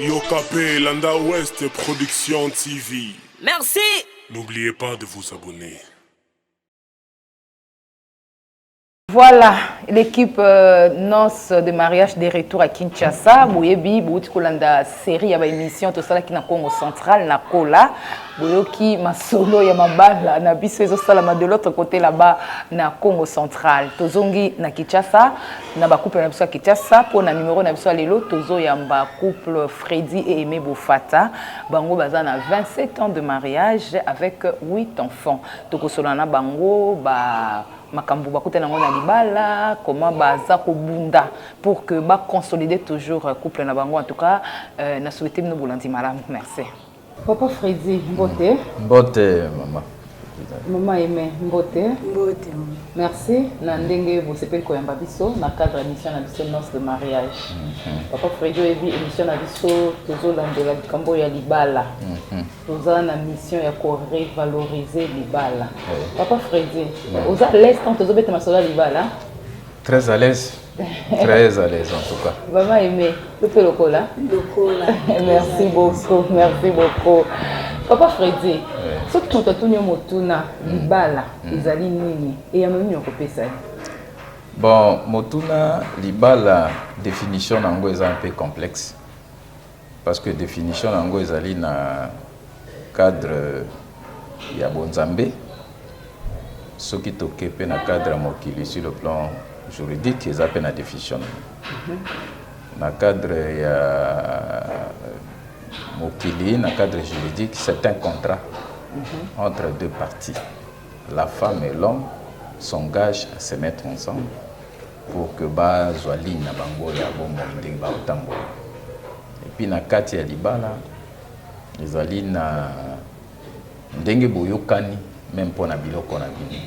Yokapé, Landa Ouest Production TV. Merci. N'oubliez pas de vous abonner. Voilà, l'équipe euh, Noce de mariage de retour à Kinshasa. Boyebi, bouti kolanda série ya ba émission to sala ki na Congo central na kola. boyoki masolo ya mabala na biso ezosalama de l'autre côté là-bas na congo central tozongi na kinshasa na bacouple na biso ya kinshasa mpo na numero na biso ya lelo tozoyamba couple fredi e aime bofata bango baza na 27 ans de mariage avec 8 enfants tokosola na bango ba makambo bakutani yango na libala comment baza kobunda pour que baconsolider toujours couple na bango en tout cas euh, na souhaite bino bolandi malamu merci Papa Freddy, mbote. Mbote, mama. Mama Aime, mbote. Mbote. Merci na ndenge bosepeli koyamba biso na cadre ya mission na biso Noce de mariage. Mhm. Papa Freddy oyebi émission na biso tozolandela likambo ya libala. Mhm. Toza na mission ya ko revaloriser libala. Papa Freddy, oza à l'aise quand tozobeta masolo ya libala? Très à l'aise. Très à l'aise en tout cas. Maman aimée, le peu lokola. Lokola. Merci beaucoup, merci beaucoup. Papa Freddy, ce que tu as tenu motuna, mm. libala, mm. ezali nini et ya mimi okopesa ye. Bon, motuna libala définition nango eza un peu complexe. Parce que definition na yango ezali na cadre ya bonzambe. Soki toke pe na cadre ya mokili sur le plan juridique eza pe na definition na yango. Na cadre ya mokili, na cadre juridique, c'est un contrat entre deux parties. La femme et l'homme s'engagent à se mettre ensemble. pour que bazwa ligne na bango ya bomoi ndenge bakotambola epuis na kati ya libala ezali na ndenge boyokani meme mpo na biloko na bino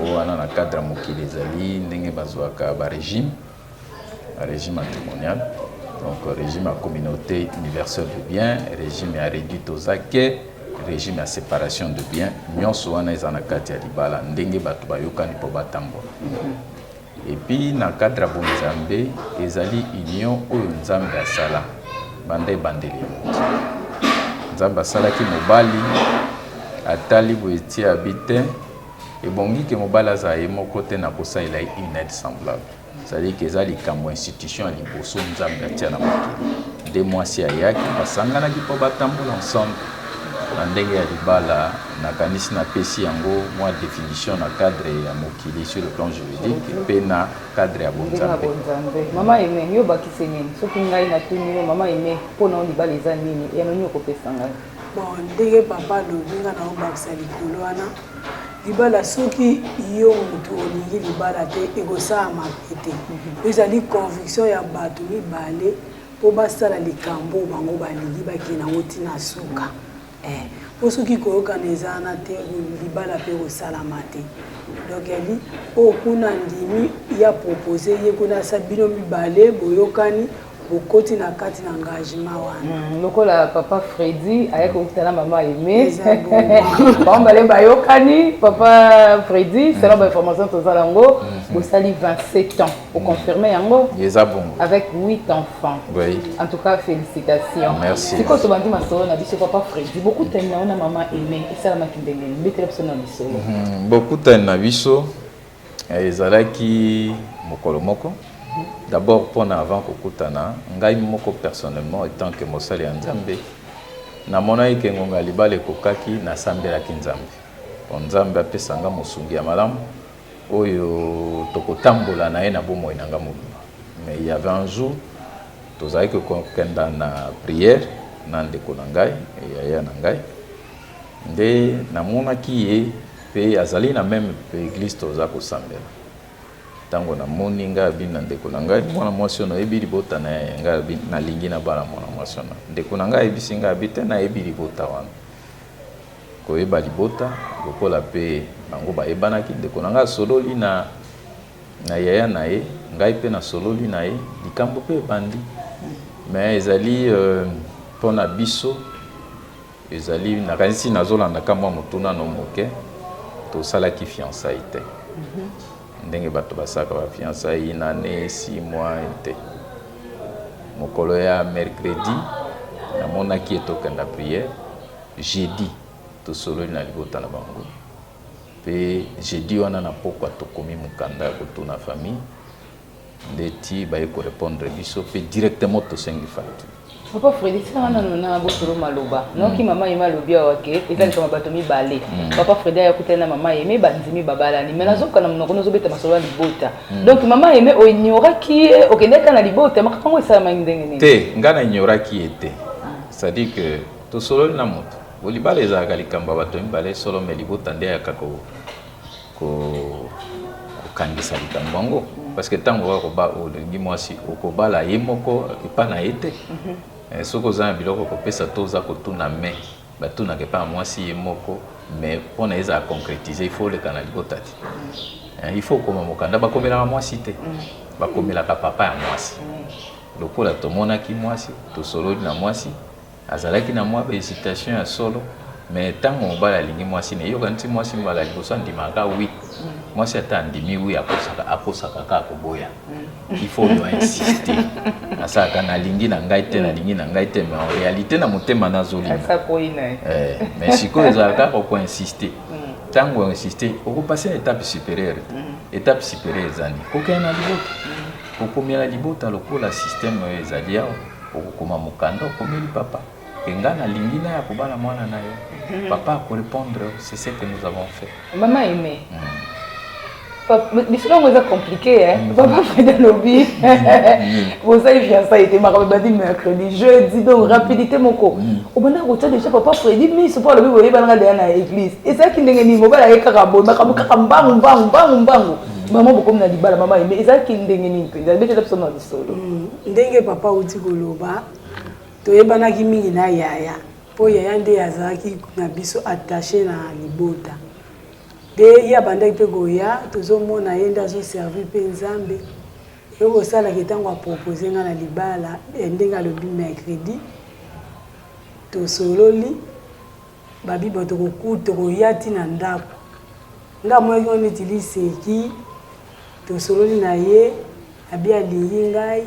o wana na cadre ya mokili ezali ndenge bazwaka barégime régime matrimonial donc régime ya communauté universelle de bien régime ya réduit tozake régime ya séparation de bien nyonso wana eza na kati ya libala ndenge bato bayokani mpo batambola Epuis na cadre ya bonzambe ezali union oyo nzambe asala banda ebandeli ya mokili nzambe asalaki mobali atali boye ti abi te ebongi ke mobali azala ye moko te na kosalela ye une aide semblable ezali ke eza likambo institution ya liboso nzambe atia na mokili nde mwasi ayaki basanganaki mpo batambola ensemble na ndenge ya libala Nakanisi napesi yango mwa definition na cadre ya mokili sur le plan juridique mpe na cadre ya bonzambe. Mama Aime, yo obakisi nini? Soki ngai natuni yo, Mama Aime, mpo na yo libala eza nini? Eyano nini okopesa ngai? Bon, ndenge papa alobi nga na obakisa likolo wana libala soki yo motu olingi libala te ekosala mabe te mhm. ezali conviction ya bato mibale mpo basala likambo bango balingi bakende yango ntina suka Eh, po soki koyokana eza wana te, libala pe kosalama te. Donc yali oyo oh, kuna andimi ya propose ye kuna sa bino mibale boyokani bokoti na kati na engagement wana mm, lokola papa fredi ayaki kokita na mama aime bango bale bayokani papa fredi selon bainformation toza yango mm-hmm. bosali 27 ans Au confirmer yango eza bongo avec 8 enfants oui. en tout cas félicitations merci sikoyo tobandi masolo na biso papa fredi bokutani na yo na mama aime esalamaki ndenge nini betela biso na lisolo mhm. bokutani na biso eh, ezalaki mokolo moko d'abord mpona avant kokutana ngai moko personnellement etant que mosali ya nzambe namonaki ke ngonga libala ekokaki nasambelaki nzambe mpo nzambe apesa nga mosungi ya malamu oyo tokotambola na ye na bomoi na ngai mobimba mais il y avait un jour tozalaki kokenda na prière na ndeko na ngai yaya na ngai nde namonaki ye mpe azali na meme eglise toza kosambela ntango namoni ngai abini na ndeko na ngai mwana mwasi oyo nayebi libota na ye ngai nalingi nabala mwana mwasi wana ndeko na ngai ayebisi ngai abi te nayebi libota wana koyeba libota lokola pe bango bayebanaki ndeko na ngai asololi na na yaya na ye ngai pe nasololi na ye likambo pe ebandi mais ezali euh, mpona euh, biso ezali nakanisi nazolanda kamwa motuna no moke tosalaki fiançaille te mhm. Ndenge bato basalaka ba fiançailles, une annee, six mois te. Mokolo ya mercredi namonaki ye tokenda prière, jeudi tosololi na libota na bango mpe jeudi wana na pokwa tokomi mokanda ya kotuna famille nde ti baye ko repondre biso mpe directement tosengi facture papa fredi tika nga nano na bosolo maloba nayoki mama yeme alobi awa ke eza likama bato mibale papa fredi ayakutani na mama yeme bandimi babalani mai nazoka na monoko nozobeta masolo ya libota donc mama yeme oignoraki ye okendaki na libota makambo yango esalamaki ndenge nini te ngai na ignoraki ye te c'est-à-dire que tosololi na moto bolibala ezalaka likambo ya bato mibale solo mai libota nde ayaka ko kokangisa likambo yango parce que ntango okoki koba olingi mwasi okobala ye moko epa na ye te mhm. eh, soki oza na biloko kopesa to oza kotuna me batunaka epa na mwasi ye moko mais mpo na ezala concrétise il faut oleka na libota te eh, il faut okoma mokanda bakomelaka mwasi te mhm. bakomelaka papa ya mwasi mhm. lokola tomonaki mwasi tosololi na mwasi Azalaki na mwa ba hesitation ya solo mais ntango mobali alingi mwasi na eyokani ti mwasi mbala liboso andimaka kaka wi mwasi ata andimi wi akosaka akosaka kaka koboya il faut yo insiste asalaka nalingi na ngai te nalingi na ngai te mais en réalité na motema nazolinga eh, mais sikoyo ezalaka kaka okoinsiste ntango oinsiste okopase na étape supérieure étape supérieure ezani kokende na libota kokomela libota lokola système oyo ezali awa Okokoma mokanda okomeli papa que nga na lingi na ya kobala mwana na yo. Papa ako repondre yo c'est ce que nous avons fait. Maman aimee. Hum. lisolo yango eza compliqué eh? mm. papa freda alobi mm. mm. bozali fiançaille te makambo ebandi mercredi jeudi donc rapidité moko obanda kotya déjà papa fredi miso mpo alobi boyebanaka deya na église ezalaki ndenge nini mobala ye kaka boye makambo kaka mbangu mbangu mbangu mbangu mama bokomi na libala mama eme ezalaki ndenge nini mpenza ebetela biso na lisolo Ndenge papa auti koloba, toyebanaki mingi na yaya mpo yaya nde azalaki na biso attache na libota mpe ye abandaki mpe koya tozomona ye nde azoservi mpe nzambe eye kosalaki ntango apropose ngai na libala eh, ndenge alobi mercredi tosololi babi bato tokokuta tokoya ti na ndako nga amonaki ngo neti liseki tosololi na ye abi alingi ngai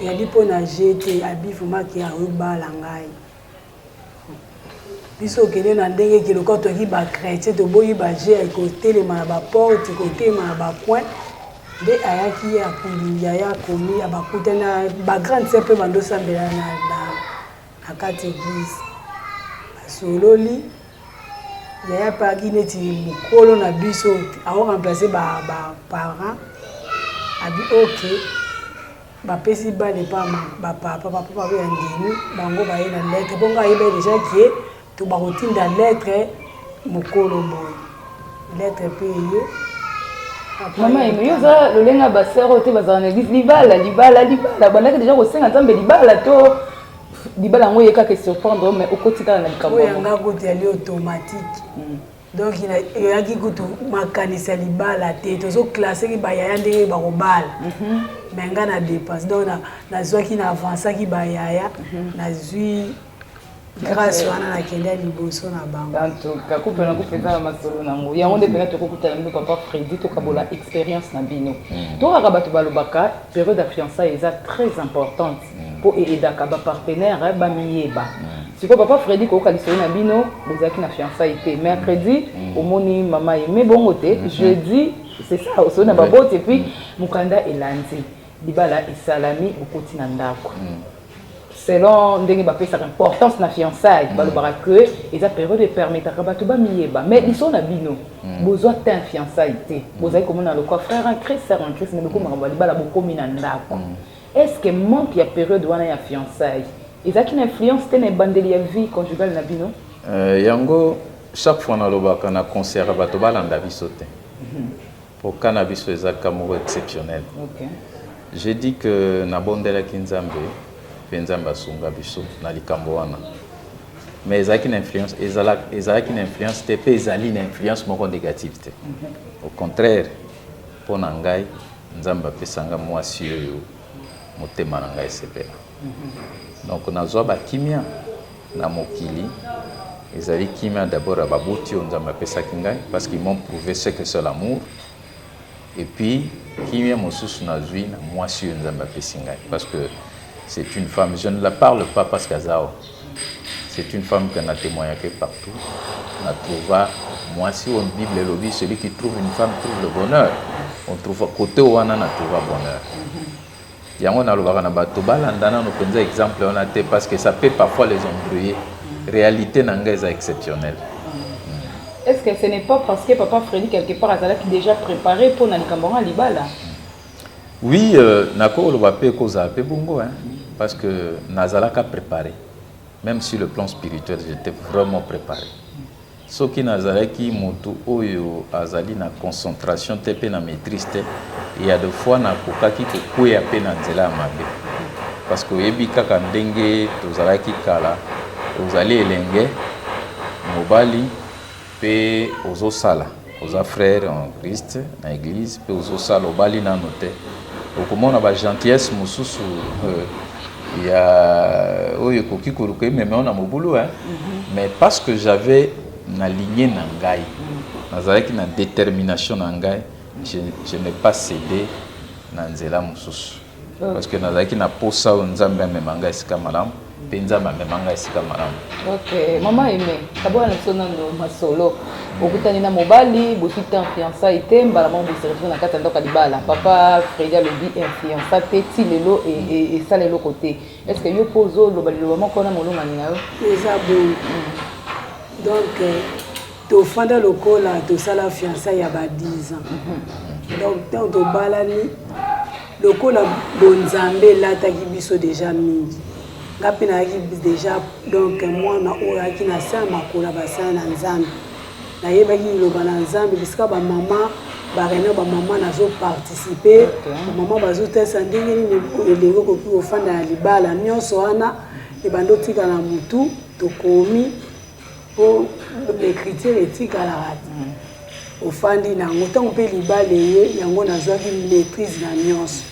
yabi mpo na je te abi vomaki ayobala ngai biso okende na ndenge kiloka toki bachrétien toboyi baje ekotelema na baporte ekotelema na bacoin nde ayaki ye akulingi aya akomi abakutana bagrande sœur mpe bandosambela na Na kati eglise basololi yaya paki neti mokolo na biso ao remplace ba, ba parents abi ok bapesi bana epa bapapa bapapa baye bandimi bango baye na ndeke mpo ngai ayeba deja ke To bakotinda lettre mokolo boye. Lettre pe eye. Mama Emi, yo oza lolenge ya basere oyo te bazala na eglise libala libala libala bandaki deja kosenga nzambe libala to libala yango eye kaka esurprendre mais okoti kaka na likambo yanga kutu yali automatique hmm. donc eyaki kutu makanisi ya libala te tozoklaseki bayaya ndenge bakobala mhm. me ngai na dépense donc nazwaki na avansaki bayaya mhm. nazwi grâce wana nakenda liboso na bango antuka kupe na kupe eza na masolo nango yango nde mpena tokokutana bino papa fredi tokabola mm. expérience na bino mm. to kaka bato balobaka periode ya fiançai eza très importante mpo mm. eedaka bapartenaire eh, bamiyeba sikoyo papa fredi koyoka lisolo na bino bozalaki na fiançai te mercredi omoni mama ye me bongo te mm-hmm. jeudi c'est ça osoli na baboti epuis mokanda elandi libala esalami bokoti na ndako selon ndenge bapesaka importance na fiançaille mm. balobaka que eza periode epermetaka bato bamiyeba mais biso na bino mm. bozwa tin fiançaille te mm. bozali komona lokwa frère en christ sœur en christ mais lokola makambo ya libala bokomi na ndako est ce que manque ya periode wana ya fiançaille ezalaki na influence te na ebandeli ya vie conjugale na bino euh, yango chaque fois nalobaka na concert bato balanda biso te mhm. Po cas na biso eza cas moko exceptionnel. J'ai dit que na bondelaki Nzambe pe Nzambe asunga biso na likambo wana. Mais ezalaki na influence, ezalaki, ezalaki na influence te pe ezali na influence moko negative te. Au contraire, po na ngai Nzambe apesa ngai mwasi oyo motema na ngai esepela. Donc nazua ba kimia. na mokili ezali kimia d'abord ya baboti oyo Nzambe apesaki ngai parce qu'ils m'ont prouvé ce que c'est l'amour et puis kimia mosusu nazwi na mwasi oyo Nzambe apesi ngai parce que c'est une femme je ne la parle pas parce qu'aza awa c'est une femme que na témoignaki partout na trouva mwasi oyo bible elobi celui qui trouve une femme trouve le bonheur on trouva kote wana na trouva bonheur Yango nalobaka na bato balanda nano mpenza exemple wana te parce que ça peut parfois les embrouiller. Réalité na nga eza exceptionnelle. Est-ce que ce n'est pas parce que papa Freddy quelque part azalaki déjà préparé pour na likambo yango libala? Oui, euh, nakoloba pe kozala pe bongo hein, parce que nazalaka préparé. Même sur le plan spirituel, j'étais vraiment préparé. Soki nazalaki mutu oyo azali na concentration te pe na maitrise te, il ya de fois nakokaki kokweya pe na nzela ya mabe. Parce que oyebi kaka ndenge tozalaki kala, ozali elenge mobali pe ozosala. oza frère en Christ na eglise pe ozosala obali nanu te okomona ba gentillesse mosusu euh, ya oyo ekoki koluka emema yo na mobulu hein? mm -hmm. mais parce que j'avais na ligne na ngai mm. nazalaki na détermination na ngai je, je n'ai pas cédé na nzela mosusu Ah. Parce que nazalaki na posa oyo Nzambe amema ngai esika malamu mpe Nzambe amema ngai esika malamu. Okay, mama Aime, kabola na biso nano masolo. Okutani na mobali, bosi te fiançailles te, mbala moko boservise na kati ya ndako ya libala. Papa Fredi alobi fiança te ti lelo esala eloko te. Est-ce que yo mpo ozoloba liloba moko na molongani na yo? Eza bongo. Mm. Donc, tofanda lokola tosala fiançai ya ba 10 ans donc ntango tobalani lokola bonzambe elataki biso deja mingi nga mpe nayaki deja donc mwana oyo ayaki na se ya makolo ya basali na nzambe nayebaki liloba na nzambe bisika bamama bareunion bamama nazoparticipe bamama bazotalisa ndenge nini elingi okoki kofanda na libala nyonso wana ebanda otika na motu tokomi po ecriture etikalaka ofandi na yango ntango mpe libala eye yango nazwaki maîtrise na nyonso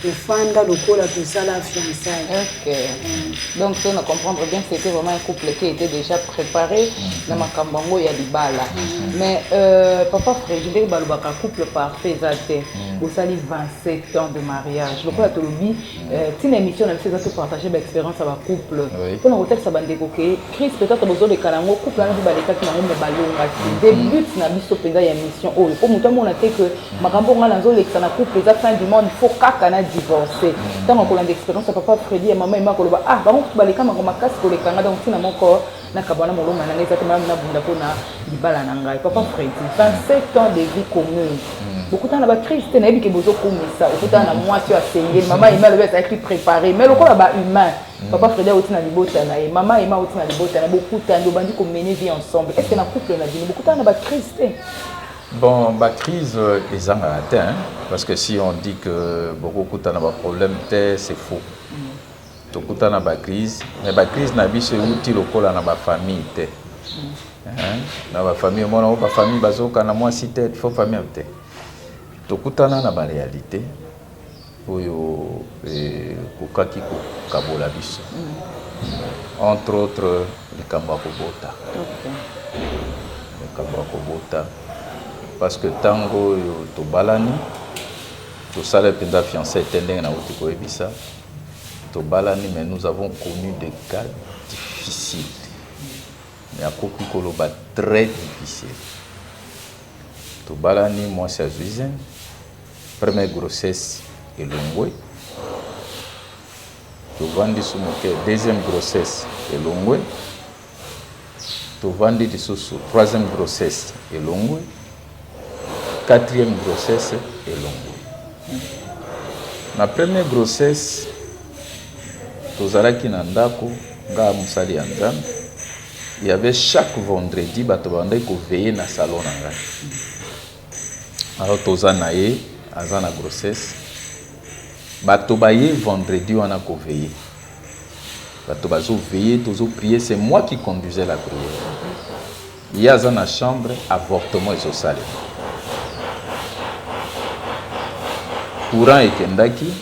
tofanda lokola tosala fiançaille okay. mm. donc so na comprendre bien que c'était vraiment un couple qui était déjà préparé mm. na makambo yango ya libala mm. mais euh, papa fredi ndenge balobaka couple parfait eza te mm. bosali 27 ans de mariage lokola tolobi Euh, ntina émission na biso eza topartage baexpérience ya bacouple mpo na kotalisa bandeko ke crise peut-être bozoleka na yango couple wana mpe balekaki nango me balongaki mm-hmm. de but na biso mpenza ya émission oyo mpo moto amona te ke makambo ngai nazolekisa na couple eza fin du monde fo kaka na divorce mm-hmm. ntango akolanda expérience ya papa fredi ya mama ema koloba ah bango kutu baleka mango makasi koleka ngai donc ntina moko nakabwana moloma na ngai eza te malamu nabunda mpo na libala na ngai papa fredi 27 ans de vie commune hmm. bokutana na bacrise te nayebi ke bozokumisa okutana na mwasi oyo asengeli mama ema alobi azalaki prépare mai lokola bahumain hmm. papa fredi auti na libota na ye mama ema auti na libota na ye bokutani obandi komene vie ensemble est ce que na couple na bino bokutana na bacrise te Bon, ma crise euh, est en atteint, hein, parce que si on dit que beaucoup de problèmes, c'est faux. Tokuta na ba crise mais ba crise na biso euti lokola na ba famille te na ba famille omona o ba famille bazokana mwasi te fo famille te tokutana na ba réalité oyo ekokaki eh, kokabola biso mm. entre autres likambo ya kobota likambo ya kobota parce que ntango oyo tobalani tosala mpenza fiancé te ndenge nauti koyebisa Tobalani mais nous avons connu des cas difficiles. Mais akoki koloba très difficile. Tobalani mwasi azwi zemi, première grossesse elongwe. Tovandi su moke, deuxième grossesse elongwe. tovandi lisusu troisième grossesse elongwe quatrième grossesse elongwe na première grossesse tozalaki na ndako ngaa mosali ya nzambe il y avait chaque vendredi bato babandaki koveille na salon na ngai alors toza na ye aza na grossesse bato baye vendredi wana koveille bato bazo veiller tozo prier c'est moi qui conduisais la prière ye aza na chambre avortement ezosalema courant ekendaki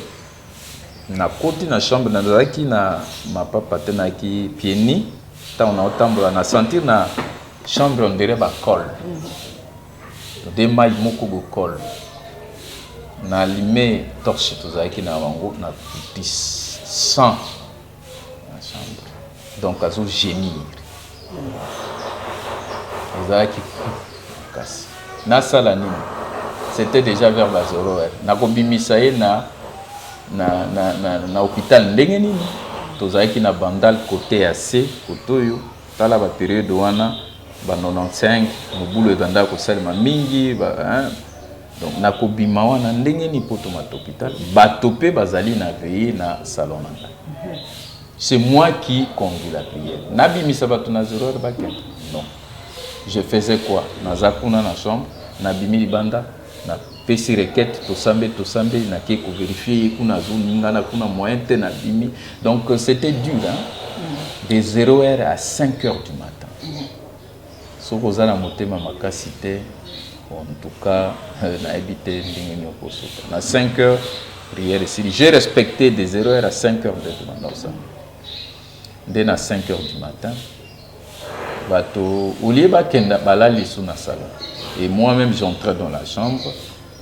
nakoti na chambre nazalaki na mapapa te nayaki pieni ntango naotambola na sentir na chambre ondire bacole de mayi moko bokol na lime torche tozalaki na bango na kuti 100 na chambre donc azo gémir ezalaki kasi nasala nini c'était déjà vers ba 0 heure nakobimisa ye na na, na, na, na hôpital ndenge nini tozalaki na bandal kote ya se kote oyo Tala ba periode wana ba 95 mobulu ebandaka kosalema mingi ba, hein? donc nakobima wana ndenge ni poto mata hôpital bato mpe bazali na veille na salon na ngai c'est moi qui conduis la prière nabimisa bato na zero heure bakenda non je faisais quoi naza kuna na chambre nabimi libanda na pesi requete tosambe tosambe nake ko verifier ye kuna azoningana kuna moyen te na bimi donc euh, c'était dur hein? Mm. de 0 heure à 5 heures du matin mm. soki oza na motema makasi te en tout cas euh, nayebi te ndenge nini okosuka na 5 heures prière esili j'ai respecté de 0 heure à 5 heures de matin nde na 5 heures du matin bato au lieu bakenda balali lisusu na salon et moi même j'entrais dans la chambre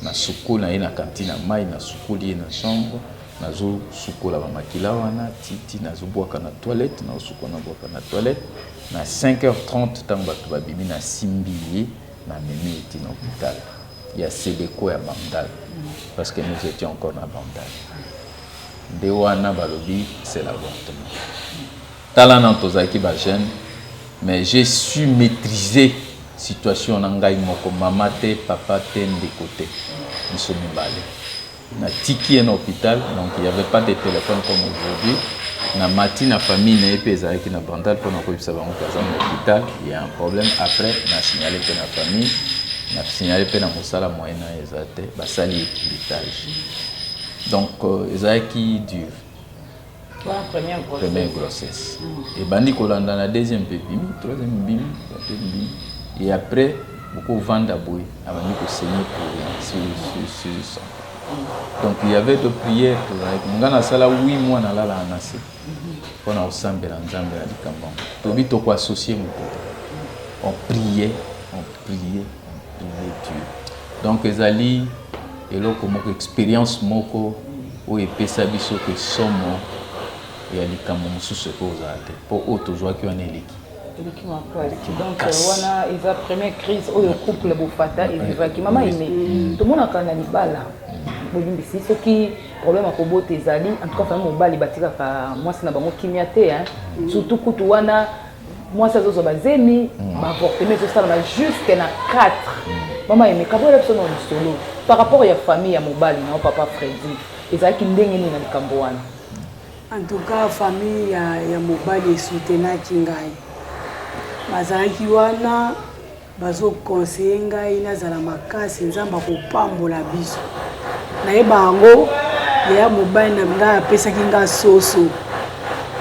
nasuko na ye na kantine ya mai nasukoli ye na chambre nazosukola bamakila wana titi nazobwaka na toilette naosukola nabwaka na toilette na 5h30 ntango bato babimi nasimbi ye na memi ye ti na hôpital ya seleko ya bandal parce que nous étions encore na bandal nde wana balobi c'est l'avortement Tala nanu tozalaki ba jeune mais je su metrise situation na ngai moko mama te papa te ndeko te biso mibale na tiki ye na hopital donc il y'avait pas de telephone comme aujourd'hui na mati na famille na ye mpe ezalaki na bandal mpo na koyebisa bango mpe aza na hopital ya un problème après na signale mpe na famille na signale mpe na mosala moyen na eza te basali equilitage donc euh, ezalaki dure première grossesse ebandi kolanda na deuxième mpe bimi troisième bimi quatrième bimi et après bokovanda boye abandi kosenye sur donc il y avait de prière tozalaki ngai nasala wi mois nalalaka na se mpo na kosambela nzambe na likambo yango tobi tokoassocie moto te on priait on priait donc ezali eloko moko experience moko oyo epesa biso ke somo ya likambo mosusu ekoki kozala te mpo oyo tozwaki wana eleki eleki makasi donc wana eza première crise oyo couple bofata evivaki mama ine mm. tomonaka na libala bolimbisi soki problème ya kobota ezali en tout cas famille mobali batikaka mwasi na bango kimia te surtout kutu wana mwasi azozwa bazemi mm. baavortema ezosalama jusque na 4 mama emeka boyela biso na lisolo par rapport ya famille ya mobali nao papa fredi ezalaki ndenge nini na likambo wana en tout cas famille ya, ya mobali esutenaki ngai bazalaki wana Bazo conseiller ngai nazala makasi nzambe akopambola biso nayeba yango yaya mobali na ngai apesaki ngai soso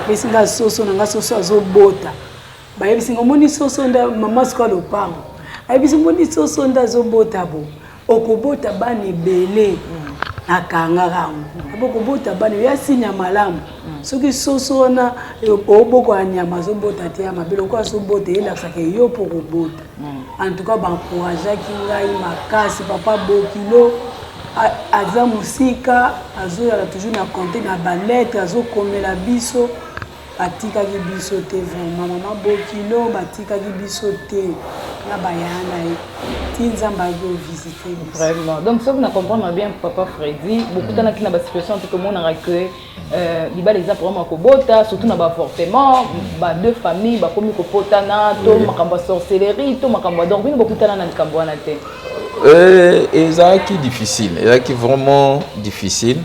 apesi ngai soso na ngai soso azobota bayebisi ngai omoni soso nda mama sikoyo lopango ayebisi omoni soso nda azobota bo okobota bana ebele akangaka yango abokobota bana ya sinya malamu soki soso wana oboko ya nyama azobota te ya mabe lokola azobota elakisaka yo mpo okobota en tout cas bancourageaki ngai makasi papa bokilo aza mosika azoyaka toujours na compte na baletre azokomela biso Batikaki biso te vraiment maman bokilo batikaki biso te na bayaya na ye ti nzambe ayaki ovisite vraiment donc soki na comprendre bien papa fredi bokutanaki na basituation mpe tomonaka que euh, libala eza problème ya kobota surtout na baavortement ba deux famille bakomi kopotana to makambo ya sorcellerie to makambo ya donc bino bokutana na likambo wana te euh, ezalaki difficile ezalaki vraiment difficile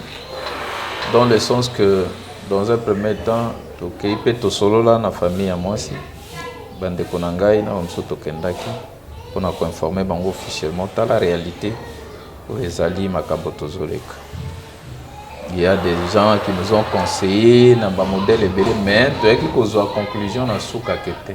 dans le sens que Dans un premier temps, tokeyi mpe tosolola na famille ya mwasi, bandeko na ngai na bamosusu tokendaki mpo na koinforme bango officiellement tala realite oyo ezali makambo tozoleka il y a des gens qui nous ont conseillé na bamodele ebele mais toyaki kozwa conclusion na suka ke te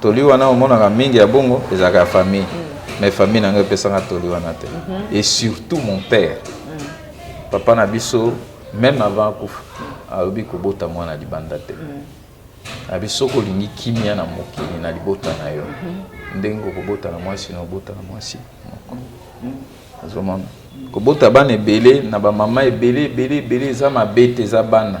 Toli wana omonaka mingi ya bongo ezalaka ya famille mm. mais famille na ngai epesaka toli wana te mm -hmm. et surtout mon père mm. papa na biso même avant akufa alobi kobota mwana libanda te mm. abi soki olingi kimia na mokili na libota na yo mm-hmm. ndenge okobota na mwasi na obota na mwasi moko mm. azomona kobota bana ebele na bamama ebele ebele ebele eza mabe te eza bana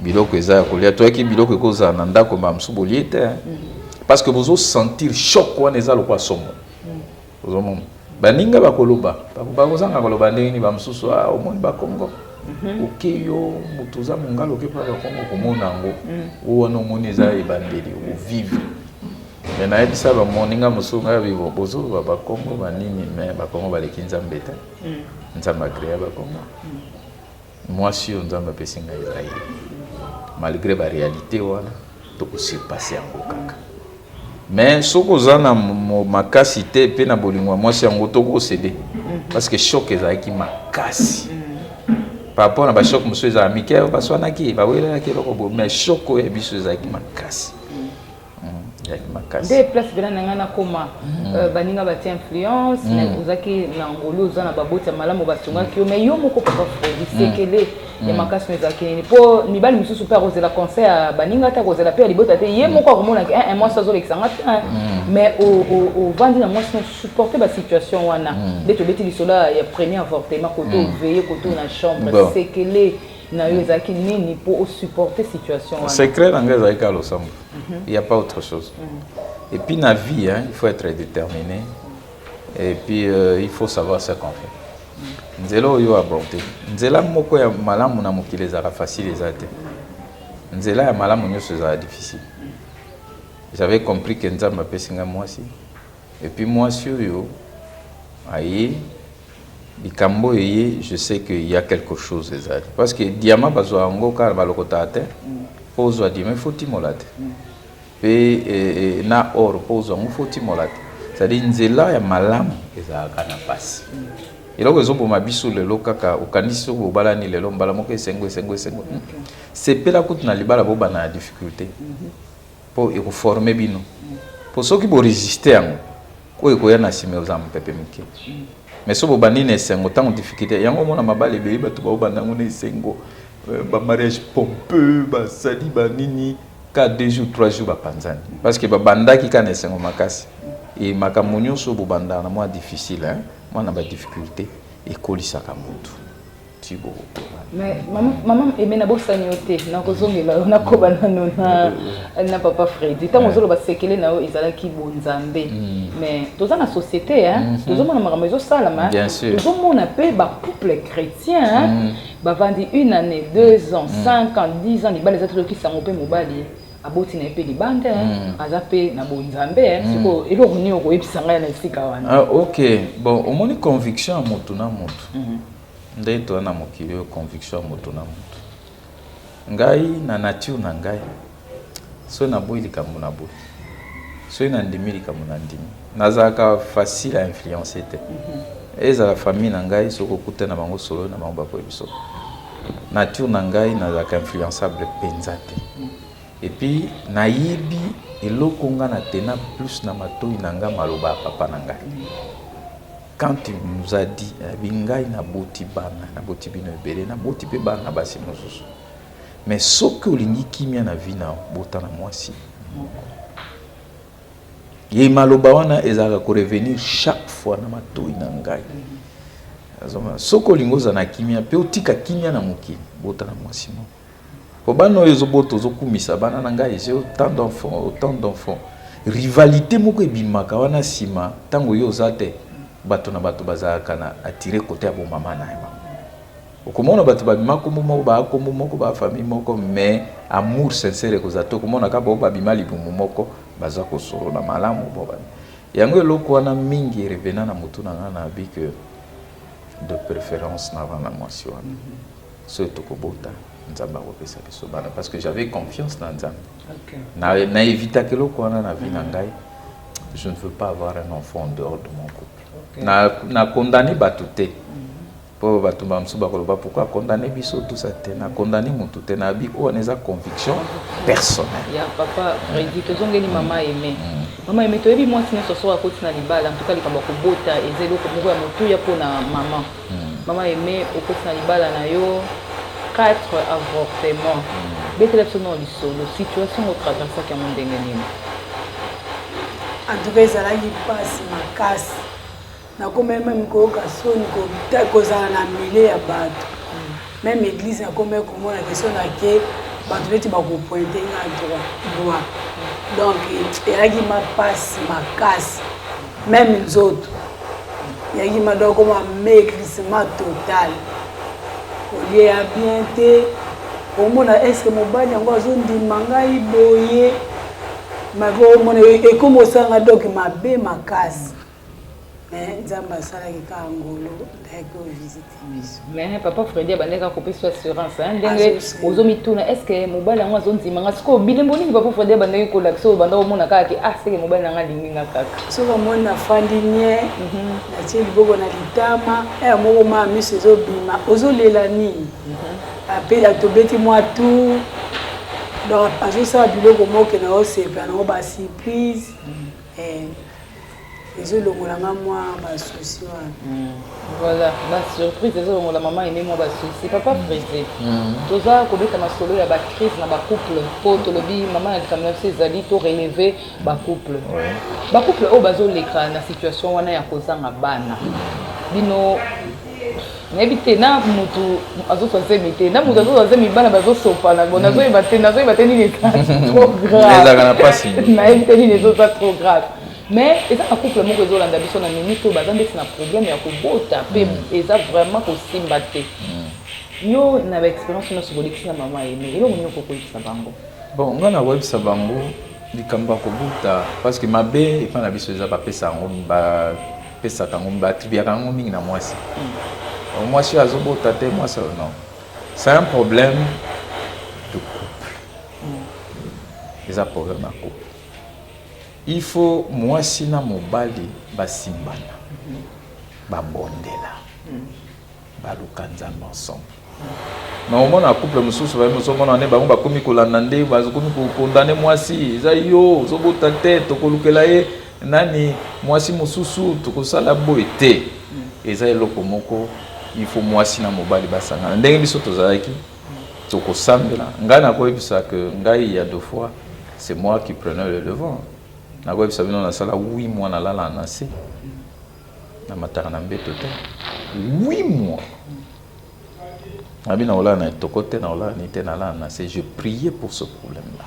biloko eza ya kolia toyaki biloko ekozala na ndako mbala mosusu bolie te parce que bozo sentir choc wana eza lokola somo ozomona baninga bakoloba bakozanga koloba ndenge nini bamosusu a ah, omoni bakongo mhm. oke yo moto oza mongala oke mpa bakongo komona yango mhm. o wana omoni eza ebandeli ovivre me nayebisa bamoninga mosusu ngai bibo bozoloba bakongo banini me bakongo baleki nzambe te mhm. nzambe agrea bakongo Mwasi oyo Nzambe apesi ngai eza ye. Malgre ba realite wana toko surpasser yango kaka. Mais soki oza na makasi te mpe na bolingo ya mwasi yango toko cede mhm. parce que choc ezalaki makasi. Mm. par rapport na bashoke mosusu ezala mike baswanaki bawelelaki eloko boye mais shoko ya biso ezalaki makasi nde place mpena na ngai nakoma mm. euh, baninga batia influence mm. mais ozalaki na ngolu oza na baboti ya malamu basungaki yo mais yo moko papa fredi mm. sekele ya makasi no ezalaki nini mpo mibali mosusu mpe akozela conseil ya baninga te akozela mpe ya libota te ye moko akomonaki eh, eh, mwasi azolekisa nga te eh. mais ovandi na mwasi no supporte basituation wana nde tobeti lisolo ya premier avortement kote oveye kote na chambre sekele na yo ezalaki nini mpo o supporter situation wana secret na ngai ezalaki kaka losambo mhm. il y a pas autre chose mhm. et puis na vie hein, il faut être déterminé et puis euh, il faut savoir ce qu'on fait mhm. nzela oyo aborde nzela moko ya malamu na mokili ezalaka facile eza te nzela ya malamu nyonso ezalaka difficile j'avais compris que nzambe apesi ngai mwasi Et puis mwasi oyo aye likambo oyo eye je sais que ya quelque chose ezali parce que diama bazwa yango kaka balokota te mpo ozwa diama ifo timola te mpe eh, na or mpo ozwa yango fo timola te ezali nzela ya malamu ezalaka na mpasi eloko ezoboma biso lelo kaka okanisi soki bobalani lelo mbala moko esengo esengo esengo sepela kutu na libala bobana na difficulté mm -hmm. Po eko former bino. Po soki bo resister yango, oyo ekoya na sima ekozala mupepe muke. Mais soki bobandi na esengo tango difficulte, yango omona mabala ebele batu baobanda yango na esengo, ba mariages pompeux, basali ba nini, kaka deux jours, trois jours bapanzani. Parce que babandaki kaka na esengo makasi. Et makambo nionso oyo bobandaka na mua difficile, mua na ba difficultes, ekolisaka mutu. mama eme nabosani yo te nakozongela yo nakoba nano na papa fredi ntango ozoloba sekele na yo ezalaki bonzambe mais mm. toza na société mhm. tozomona makambo ezosalama tozomona mpe bacouple chrétien mm. bavandi une année deux ans mm. cinq ans dix ans libala eza tolokisa yango mpe mobali aboti na ye mpe libanda mm. aza mpe na bonzambe eh. mm. sikoyo eloko nini okoyebisa ngai na esika wana ah, ok bon omoni conviction ya motu na motu mm -hmm. Nde toza na mokili oyo conviction ya moto na moto. Ngai na nature na ngai soki naboyi likambo na boyi soki nandimi likambo na ndimi nazalaka facile à influencer te mm -hmm. ezala famille na ngai soki okuta na bango solo na bango bakoyebi soko nature na ngai nazalaka influençable mpenza te epuis nayebi eloko nga na tena plus na matoi na ngai maloba ya papa na ngai Quand il nous a dit, alobi ngai naboti bana, naboti bino ebele, naboti mpe bana na basi mosusu. Mais soki olingi kimia na vie na bota na mwasi moko. Ye maloba wana ezalaka ko revenir chaque fois na matoi na ngai. Soki olingi ozala na kimia mpe otika kimia na mokili, bota na mwasi moko. Po bana oyo ezo bota ozo kumisa bana na ngai j'ai autant d'enfants autant d'enfants rivalite moko ebimaka wana sima tango yo oza te bato na bato bazalaka na attire kote ya bo mama na bango okomona bato ba bima kombo moko ba kombo moko ba famille moko mais amour sincere ekozala te okomona kaka bao babima libumu moko baza kosolo na malamu bo bana yango eloko wana mingi erevena na motu na ngai na bi que de préférence na bana mwasi wana Soki toko bota nzambe ako pesa biso bana parce que j'avais confiance na nzambe okay. na, na evitaka eloko wana na vie na mm. ngai je ne veux pas avoir un enfant en dehors de mon couple okay. na, na condamne bato te mpo mm-hmm. bato bamosusu bakoloba pourkoi condamne biso tusa te na condamne motu te nayebi oyo wana eza conviction personnelle ya papa redi tozongeli mama aime mm. mama aime toyebi mwasi nyonso soki akoti na libala en tout cas likambo ya kobota eza eloko moko ya motuya mpo na mama Maman Aime okoti na libala na yo 4 avortement. Betela biso na lisolo situation ngo traversaki yango ndenge nini? En tout cas ezalaki mpasi makasi. Nakomaki meme koyoka soni kozala na milieu ya bato. Meme eglise na kombe komona question na ke bato neti bakopointe nga droit droit donc eyaki mapasi makasi meme nzoto eyaki madoko ma maigrissement total olie ya bien te omona eske mobali yango azondima ngai boye makomona ekomi osanga doki mabe makasi mais nzambe asalaki ka ngolo ayaki ovisite biso mais papa fredi abandaki akopesa assurance ndenge ozomituna est ce que mobali yango azondima nga sikoyo bilembo nini papa fredi abandaki kolakisa oyo banda omona kaka ke ah seke mobali na nga alingi nga kaka soki omoni nafandi nie mhm. natie liboko na litama eh, moko maa miso ezobima ozolela nini mhm. ape atobeti mwa tour donc azosala biloko moke na osepela nango basurprise mhm. eh. Ezo longola nga mwa ba soucis wana. Voilà, ba surprise ezo longola mama Aimee mwa ba soucis. Papa Freddy, toza kobeta masolo ya ba crise na ba couple po tolobi mama na likambo na biso ezali to relever ba couple. Ba couple oyo bazo leka na situation wana ya kozanga bana bino nayebi te na mutu azoswa zemi te na mutu azoswa zemi bana bazosopana bo nazoyeba te nazoyeba te nini eza trop graveezalaka na mpasi nayebi te nini ezoza trop grave mais eza na couple moko ezolanda biso na mimi to baza ndeti na problème ya kobota mpe mm. eza vraiment kosimba te mm. yo na baexpérience nyonso kolekisi na mama ye mais eloko nini okokoyebisa bango bon ngai nakoyebisa bango likambo ya kobota parce que mabe epai na biso eza bapesa yango pesaka yango ba attribuaka yango mingi na mwasi hmm. mwasi azobota te mwasi non c'est un problème de couple hmm. eza problème ya couple il faut mwasi na mobali basimbana hmm. babondela Baluka Nzambe ensemble. Na omona couple mosusu baye moso mona ne bango bakomi kolanda nde bakomi kokondane mwasi eza yo ozobota te tokolukela ye nani mwasi mosusu tokosala boye te eza eloko moko il faut mwasi na mobali basangana ndenge biso tozalaki tokosambela ngai nakoyebisa ke ngai ya deux fois c'est moi qui prenais le devant nakoyebisa bino nasala wi mwana lala na se Na mataka na mbeto te. Oui moi abina olala na etoko te na olala ni te na lala na se je prier pour ce problème là.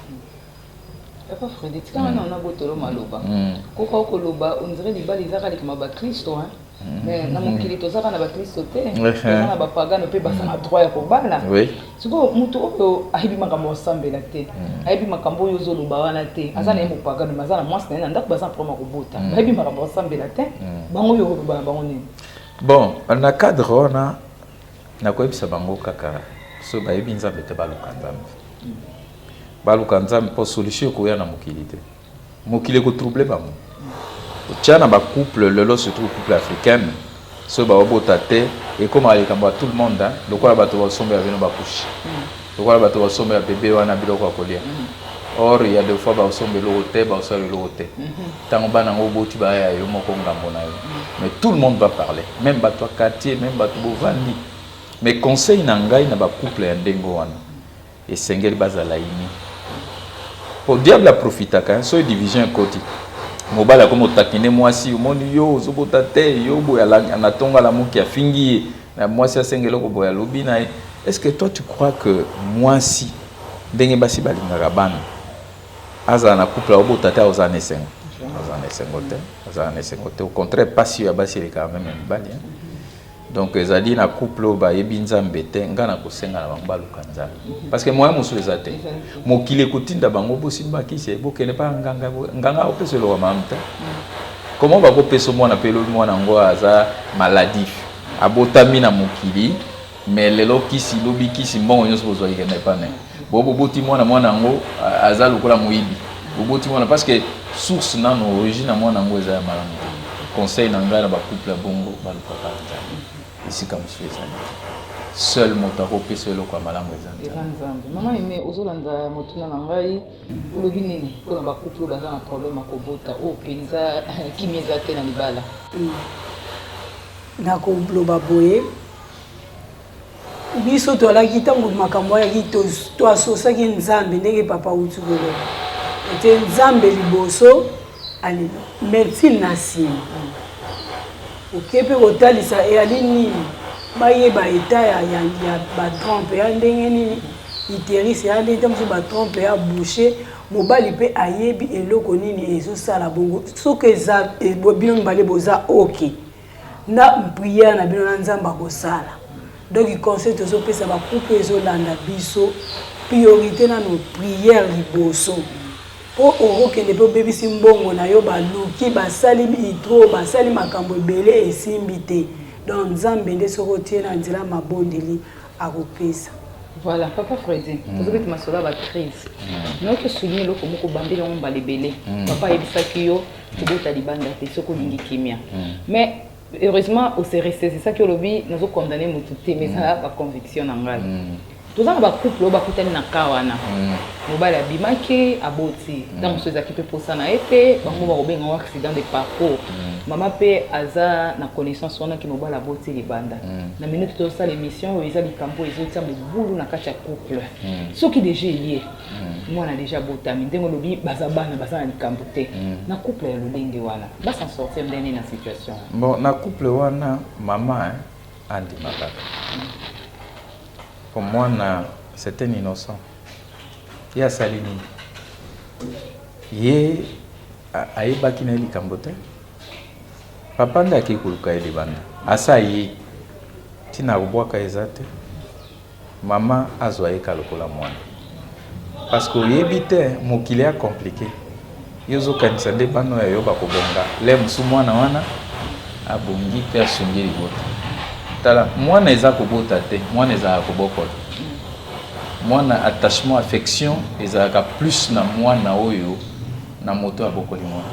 Papa Freddy, tika wana wana botolo maloba. Koka oko loba, on dirait libala ezaka likama ba Kristo hein. Mais na mokili tozaka na ba Kristo te, tozaka na ba pagano pe basana droit ya kobala. Oui. Sikoyo moto oyo ayebi makambo ya kosambela te, hmm. ayebi makambo oyo ozoloba wana te, hmm. aza na ye mopagano, mais aza na mwasi na ye na ndako, baza na problème ya kobota, hmm. bayebi makambo ya kosambela te, bango oyo okoloba na bango nini? Bon, na cadre wana nakoyebisa bango kaka so bayebi Nzambe te baluka Nzambe, baluka Nzambe mpo solution ekoya na mokili te. Mokili eko trouble bango. Otia na ba couple lelo surtout couple africaine soki ba bota te ekomaka likambo ya tout le monde hein lokola bato ba sombo ya bino ba couche lokola bato ba sombo ya bebe wana biloko ya kolia or ya de fois ba sombo eloko te ba sala eloko te tango bana ngo boti ba ya yo moko ngambo na yo mais tout le monde va parler même bato ya quartier même bato bovandi mais conseil na ngai na ba couple ya ndenge wana Esengeli bazala unis po diable aprofitaka hein soki division ekoti mobali akomi ko taquiner muasi omoni yo ozobota te yo boye anatonga lamuki afingi ye na muasi asenga eloko boye alobi na ye est ce que toi tu crois que muasi ndenge basi balingaka bana azala na couple aobota te akozala na esengo azala na esengo te azala na esengo te au contraire pasi ya basi elekaka meme ya mibali hein Donc ezali na couple oyo bayebi Nzambe te, nga na kosenga na bango baluka Nzambe. Parce que moyen mosusu eza te. Mokili ekotinda bango bosimba kisi, bokende pa nganga, nganga opesa eloka malamu te. Comment bakopesa mwana mpe lobi mwana yango aza maladif, abotami na mokili, mais lelo kisi, lobi kisi, mbongo nyonso bozwaki kende epa nani? Bo boboti mwana mwana yango aza lokola moyibi. Boboti mwana parce que source nano origine ya mwana yango eza ya malamu te. Conseil na ngai na ba couple ya bongo balukaka Nzambe. Esika mosusu ezali te. Seul moto akopesa eloko ya malamu eza Nzambe. Eza Nzambe. Mama Aime ozolanda motuna na ngai olobi nini mpo na ba couple baza na problème ya kobota oyo mpenza kimia eza te na libala. Nakoloba boye. biso toalaki ntango makambo ayaki toasosaki nzambe ndenge papa auti koloba ete nzambe liboso alelo mertile na nsima oke mpe kotalisa eyali nini bayeba eta ya, ya, ya batrompe ya ndenge nini iterise ya ndenge ntango mosusu batrompe ya bouche mobali mpe ayebi eloko nini ezosala bongo soki eza eh, bino mibale boza oke okay. na prière na bino na nzambe akosala donc conseil tozopesa bakupe ezolanda biso priorité nano prière liboso mpo okokende mpe obebisi mbongo na yo baluki basali itro basali makambo ebele esimbi te donc nzambe nde soki otie na nzela mabondeli akopesa voilà papa fredi mm. tozobeti masolo ya bacrise mm. noki osouligne eloko moko obambeli yango mbala ebele mm. papa ayebisaki yo kobota libanda te soki olingi kimia mais heureusement ose ressaisissaki olobi nazo condamne motu te mais ezala ba conviction na ngai toza na bacouple oyo bakutani na ka wana mm. mobali abimaki aboti mm. ntango mosusu ezalaki mpe mposa na ye te bango bakobenga ngo accident de parcours mm. mama mpe aza na connaissance wana ke mobali aboti libanda na minute tozosala émission oyo eza likambo ezotia mobulu na kati ya couple soki deja eye mm. mwana deja abotami ndenge olobi baza bana baza na likambo te mm. na couple ya lolenge wana basan sortir ndenge na situation bon na couple wana mama eh, andima kaka mm. po mwana c'est un innocent ye asali nini ye ayebaki na ye likambo te papa nde akei koluka ye libanda asa ye ntina akobwaka eza te Maman azwa ye ka lokola mwana parce que oyebi te mokili ea complique yo ozo kanisa nde bana oyo ya yo bako bonga l'heure mosusu mwana wana abongi pe asungi libota tala mwana eza kobota te mwana ezalaka kobokola mwana attachement affection ezalaka plus na mwana oyo na moto abokoli mwana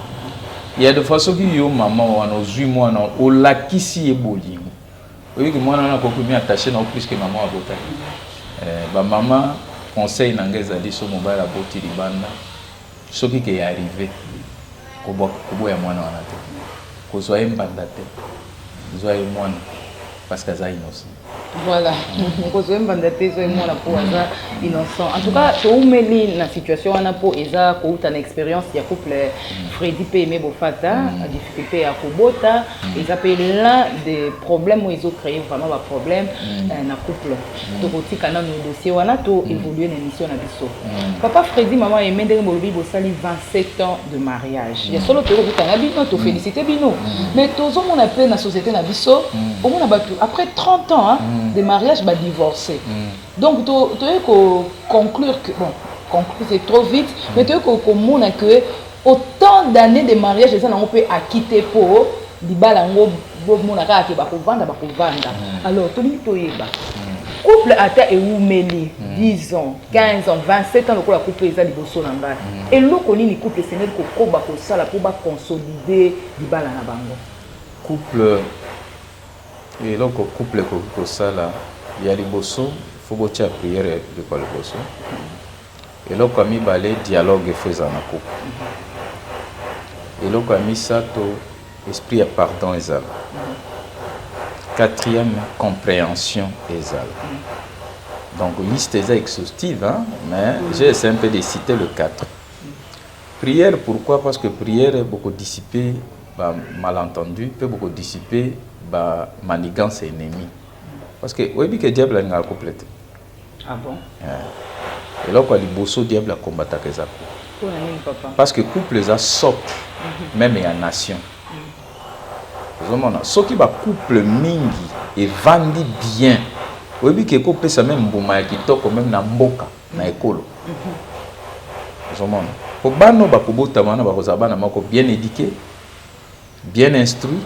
ya de fois soki yo maman wana ozwi mwana olakisi ye bolingo Oyebi que mwana wana akoki komi attache na yo plus que maman abota ye. Eh, ba mama conseil na ngai ezali so mobali aboti libanda soki ke ya arrive koboya mwana wana te kozwa ye mbanda te zwa ye mwana parce que aza innocent voilà kozwa ye mbanda te zwa ye mwana mpo aza innocent en tout cas toumeli na situation wana mpo eza kouta na expérience ya couple mm. fredi mpe aime bofata mm. difficulté ya kobota Mm. eza mpe l'un des problèmes oyo ezocreye vraiment baproblème mm. euh, na couple mm. tokotika nano dossier wana to évolue na émission na biso papa fredi mama yeme ndenge bolobi bosali 27 ans de mariage ya solo tokokutana bino tofélicité bino mais tozomona mpe na société na biso omona bato après 30 ans hein, de mariage badivorcé donc toyei koconclure que bon conclure c'est trop vite mais toyei komona que Autant d'annees de mariage eza nango pe acquis te po libala yango bomona kaka ke bakovanda bakovanda alors tolingi toyeba couple ata ewumeli 10 ans 15 ans 27 ans lokola couple eza liboso na ngai eloko nini couple esengeli kokoba kosala po baconsolide libala na bango couple eloko couple ekoki kosala ya liboso fo botia priere likwa liboso Eloko ya mibale dialogue faut ezala na couple. Eloko ya misato esprit ya pardon ezala. Quatrième comprehension ezala. Donc liste eza exhaustive hein, mais mm. j'ai essayé un peu de citer le 4. Prière pourquoi Parce que prière beaucoup dissiper ba malentendu pe beaucoup dissiper ba manigance ennemis. Parce que oyebi que diable alingaka couple te. Ah bon? Eh. Eloko ya liboso diable a combataka eza ko. Pona nini papa? Parce que couple eza socle mhm. meme ya nation. Mhm. Ozomona soki ba couple mingi evandi bien oyebi ke ekopesa meme mbuma ya kitoko meme na mboka na mhm. ekolo. Ozomona po bana bakobotama wana bakozala bana moko bien eduqué bien instruit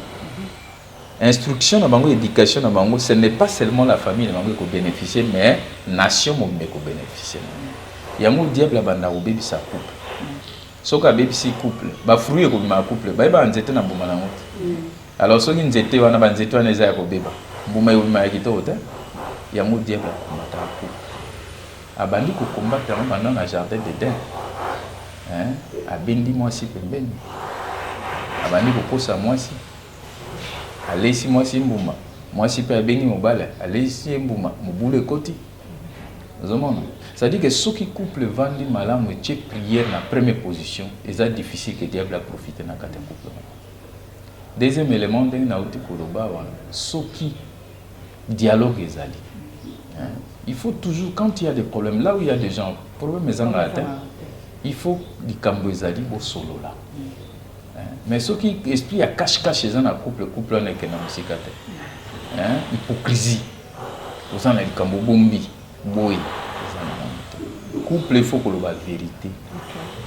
Instruction na bango, education na bango, ce n'est pas seulement la famille na bango eko beneficier mais nation mobimba eko beneficier na yango. Yango diable abandaka kobebisa couple. Soki abebisi couple, ba fruits ekobima ya couple, bayebaka nzete na mbuma na yango te. Alors soki nzete wana, ba nzete wana eza ya kobeba, mbuma ekobima ya kitoko te. Yango diable akomataka couple. Abandi kokombata yango banda na jardin d'Eden. Hein? Abendi mwasi pembeni. Abandi kokosa mwasi. Aleisi mwasi ye mbuma. Mwasi pe abengi mobali, aleisi ye mbuma. Mobulu ekoti. Ozomona? C'est-à-dire que soki couple evandi malamu etie prière na première position, eza difficile que diable a profiter na kati ya couple wana. Deuxième element ndenge nauti koloba wana, soki dialogue ezali. Hein? Il faut toujours, quand il y a des problèmes, là où il y a des gens, problème ezanga atteint, il faut likambo ezali bosolola. Mais soki esprit ya cache cache eza na couple couple wana ekenda mosika te. Hein? Hypocrisie. Oza na likambo bombi boye. Couple il faut koloba verite. Okay.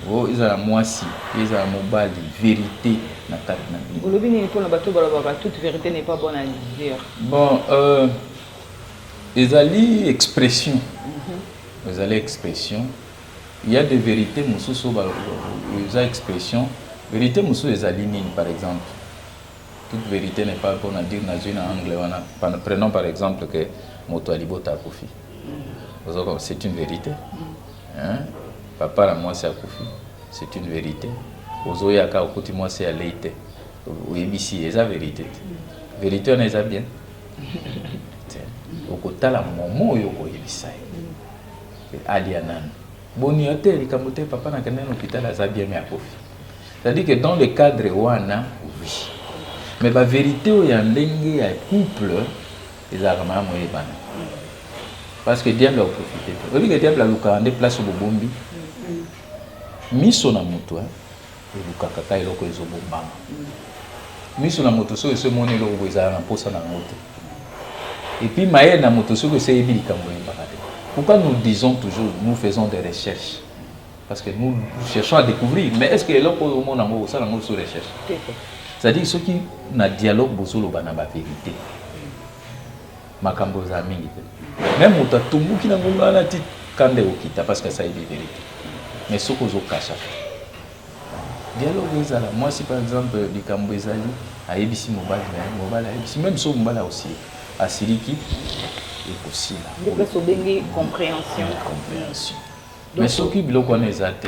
Oh, ezala mwasi, ezala mobali, verite na kati na bino. Olobi nini mpona bato balobaka toute verite n'est pas bonne à dire. Bon, euh, ezali expression. Mm -hmm. Ezali expression. Il ya des verites mosusu oyo eza expression, verite mosusu ezali nini par exemple? Toute verite n'est pas bonne à dire nazui na angle wana, prenons par exemple que moto ya libota akufi, c'est une verite hein, papa na mwasi akufi c'est une verite, ozoya kaka okuti mwasi alei te oyebisi ye eza verite te, verite wana eza bien? Te, okotala momo oyo okoyebisa ye Alia nanu. Boni yo te likambo te papa na kende na hôpital aza bien mais akofi. C'est-à-dire que dans le cadre wana oui. Mais ba vérité oyo ya ndenge ya couple ezalaka malamu oyebana. Parce que diable akoprofite te. Oyebi que diable alukaka nde place obobombi miso na moto hein. Olukaka ka eloko ezo bombama. Misu na moto soki eso emoni eloko boye zala na mposa na yango te. Et puis mayele na moto soki eso eyebi likambo oyebaka te. Pourquoi nous disons toujours nous faisons des recherches? Parce que nous cherchons à découvrir. Mais est-ce que eloko oyo omona yango osala yango sur recherche? C'est-à-dire soki na dialogue bozoloba na ba verite. makambo eza mingi te meme moto atumbuki na ngonga wana ti kanda ekokita parce que asali de verite mais soki ozokasha dialogue ezala mwasi par exemple likambo ezali ayebisi mobali na ye mobali ayebisi meme soki mobali akosilika asiliki ekosila nde place obengi comprehension comprehension mais soki biloko wana eza te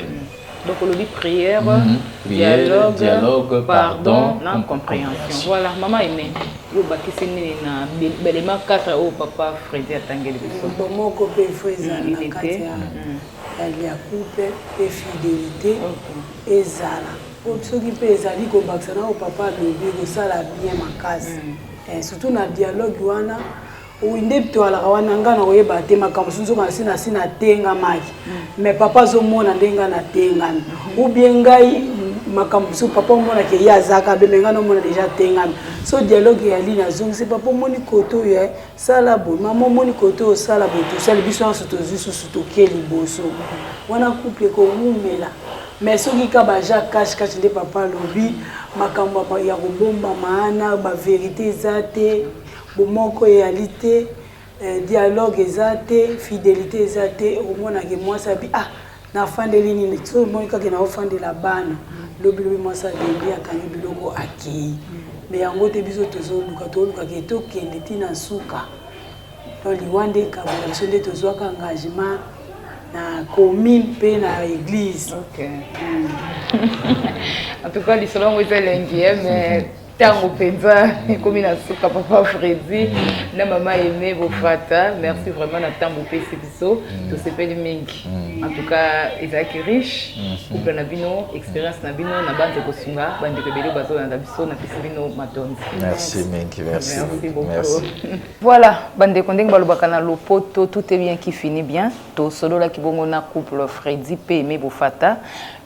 donc olobi prière mm -hmm. prière dialogue, dialogue pardon, pardon na compréhension voilà mama eme yo obakisi nini na belema 4 oyo papa fredi atangeli biso moko mpe frezalite ya couple mpe fidélité ezala soki mpe ezali kobakisa na oyo papa alobi kosala bien makasi mm. eh, surtout na dialogue wana Oui nde toalaka wana nga na oyeba te makambo mosusu nzoka nasi nasi natengamaki mais papa azomona nde nga natengami ou bien ngai makambo mosusu papa omona ke ye azaka be me nga naomona deja atengami so dialogue ya lini azongisi papa omoni kote oyo eh, sala boye mama omoni kote oyo sala boye tosali biso nyonso tozwi susu toke liboso wana couple ekowumela mais soki ka baja cash cash nde papa alobi makambo ya kobombama ana baverité eza te Bomoko eyali te, dialogue eza te, fidelite eza te, okomona ke mwasi abi ah nafandeli nini, soki omoni kaka ke naofandela bana, lobi lobi mwasi alembi akangi biloko akeyi. Mais yango te biso tozoluka, toluka ke tokende ti na suka. Donc liwa nde ekabola biso, nde tozuaka engagement na commune mpe na eglise. Okay. En tout cas lisolo yango eza elengi mais ntango mpenza ekomi na suka papa fredi mm. na mama aime bofrata merci vraiment na ntango opesi biso mm. tosepeli mingi mm. en tout cas ezalaki riche mm-hmm. couple na bino expérience na bino na banze kosunga bandeko ebele bazolanda biso napesi bino matondi merci mingi merci beaucoup voilà bandeko ndenge balobaka na lopoto tout est bien qui finit bien tosololaki bongo na couple fredi mpe aime bofata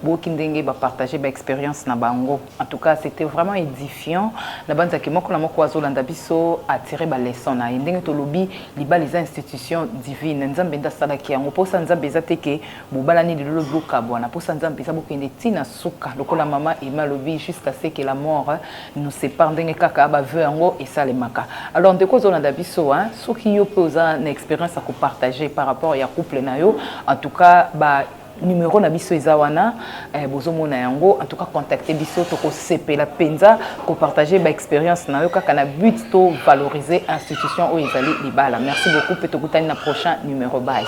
boki ndenge bapartage baexpérience na bango En tout cas c'etait vraiment edifiant na banza ke moko na moko azolanda biso attirer ba leçon na ye ndenge tolobi libala eza institution divine nzambe nde asalaki yango mposa nzambe eza te ke bobalani lelo bokabwana mposa nzambe eza bokende ti na suka lokola mama ema alobi jusqu'à ce que la mort nous sépare ndenge kaka baveu yango esalemaka alors ndeko ozolanda biso hein soki yo mpe oza na expérience ya kopartage par rapport ya couple na yo en tout cas ba numero na biso eza wana eh, bozomona yango en tout cas contacte biso tokosepela mpenza kopartage baexpérience na yo kaka na but to valoriser institution oyo ezali libala merci beaucoup mpe tokutani na prochain numero baye